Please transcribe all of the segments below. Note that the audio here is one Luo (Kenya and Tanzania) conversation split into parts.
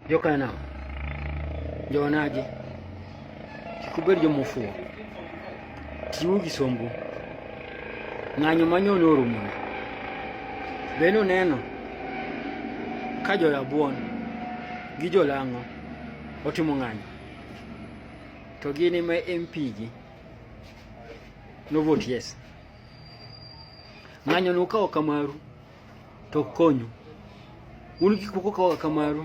Joka nao njonaje kikuberi jomufuwo tiwo gisombo ng'anyo manyone orumona bende oneno ka jorabuon gi jolang'o otimo ng'anyo to gin ema MP gi no vote yes ng'anyo no kawo kamaru to konyo un kik pok okawa kamaru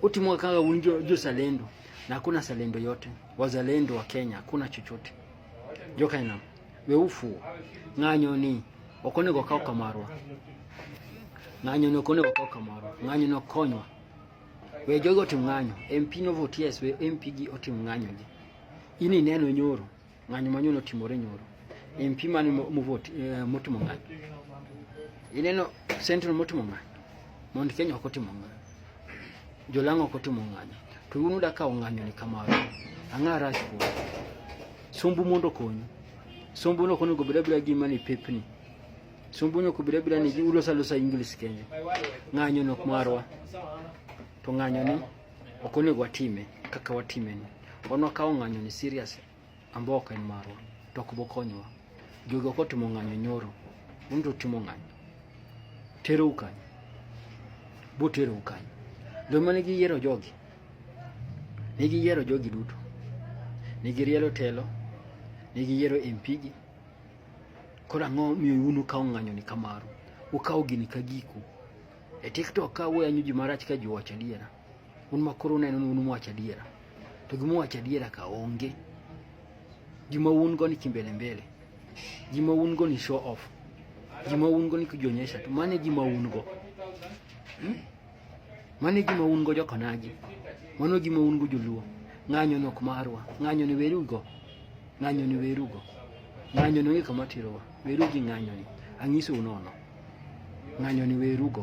utimo kaka un jozalendo na hakuna zalendo yote wazalendo wa Kenya hakuna chochote jokaina weufu ng'anyo ni ok onego okaw kamarwa ng'anyo ni ok onego okaw kamarwa ng'anyo ni okonywa we jogo otim ng'anyo MP no vote yes we MP gi otim ng'anyo gi ini neno nyoro ng'anyo manyo notimore nyoro empi mane muvoti eh, motimo ng'anyo ineno central motimo ng'anyo mond kenya ok otimo ng'anyo jolang'o ok otimo ng'anyo to un uda kawo ng'anyo ni kamano ang'a rach kuom sumbu mondo okonyu sumbu no konego beda beda gima ni pepni sumbu no kubeda beda ni ulosa losa english kenya ng'anyo nok marwa to ng'anyo ni Ok onego watime kaka watimeni. Wan wakawo ng'anyoni serious ambao ok en marwa to ok bokonywa. Jogi ok otimo ng'anyo nyoro, un to utimo ng'anyo. Terou kanyo, boterou kanyo. Joma ne giyiero jogi, ne giyiero jogi duto, ne girielo telo, ne giyiero MP gi. Koro ang'o miyo un ukawo ng'anyoni ka maru? Ukawo gini ka giku. E TikTok ka wuoyo anyo ji marach ka ji wacho adiera. Un ma koro uneno ni un mwacho adiera. To gima wacho adiera ka onge. Gima un go ni kimbele mbele. Gima un go ni show off. Gima un go ni kujionyesha tu. Mane gima un go. Hmm? Mane gima un go jokonaji. Mano gima un go joluo. Ng'anyo nok marwa. Ng'anyo ni werugo. Ng'anyo ni werugo. Ng'anyo ni onge kama tirowa. Werugi ng'anyo ni. Anyiso unono. ng'anyo ni werugo.